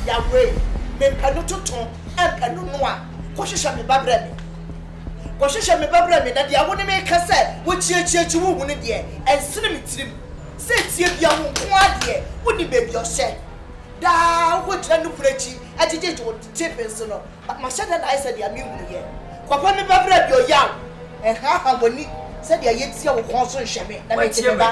yàwé mepɛ no tuntun ɛmpɛ no noa kɔhyehyɛ me ba brɛ me kɔhyehyɛ me ba brɛ me na deɛ wo ne me ka sɛ wokyiekyiekyie wo hu no deɛ ɛnsene me tirim sɛ tie bia wo nko adeɛ wo ne baabi ɔhyɛ daa wokɔgyina no kunu akyi agyegyegye wo tepe nso no mahyɛ dɛ na ayɛ sɛ deɛ mehunu yɛ kɔpɛ me ba brɛ me ɔyaw ɛhaha w'ani sɛdeɛ yɛtia wo kɔn so nhyɛ me na mete me ba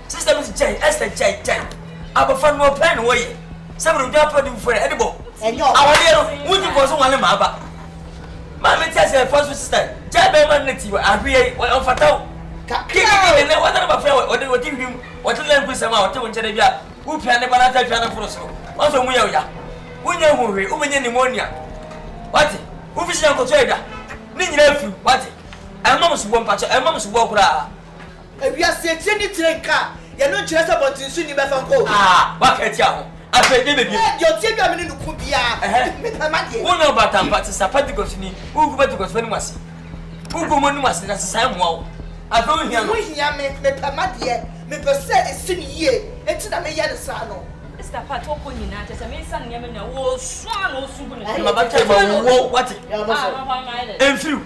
Sister bi se gyae, Esther gyae, gyae. Abɔfra no ɔpɛ na wɔyɛ. Sɛ bere odwan pɛ de mfo ɛde bɔ. Awadeɛ no, wodi nkɔɔ so nwale ma aba. Maame te ase ɛfa so sister, gyae bɛrima no na ti ahweɛ yi, ɔmfata wo. Kakra o. Nɛ wɔtane bafra wɔ ɔde wɔte hwim wɔte lɛ nku sɛm a wɔte wo nkyɛn da bi a wopia ne ba no ataatua no foro soro wɔn sɛ ɔmu yɛ wo ya wonya hu hwee wobɛnya pneumonia wate wofi hyɛ nkɔtɔ adwa ne nyina afiri wate ɛma mo soboɔ mpakyɛ ɛma mo soboɔ koraa Ewiase akyire ne kyire nka a, yɛ no nkyerɛ sɛ bɔnten so nni bɛfa nkɔ o. A, waka atia ho. Afei deɛ bɛ bio. Deɛ ɔteɛ dwa me ne no ko biara, mepɛ ma deɛ. Wo na ɔbaatan mpa te sa Pentecost ni, wo gu Pentecost fo anim ase. Wo gu wɔn anim ase na sesaɛ mmoa wo. Afei wo hia no. Wo hia me, mepɛ ma deɛ. Mepɛ sɛ ɛsi no yie, enti na meyɛ no saa no. Mister Pat ɔkɔ nyinaa kyerɛ sɛ mesa nneɛma nyinaa, wɔsua na wɔsu gu ne so. Mabata ma wo, wate? Ɛmfiri wo.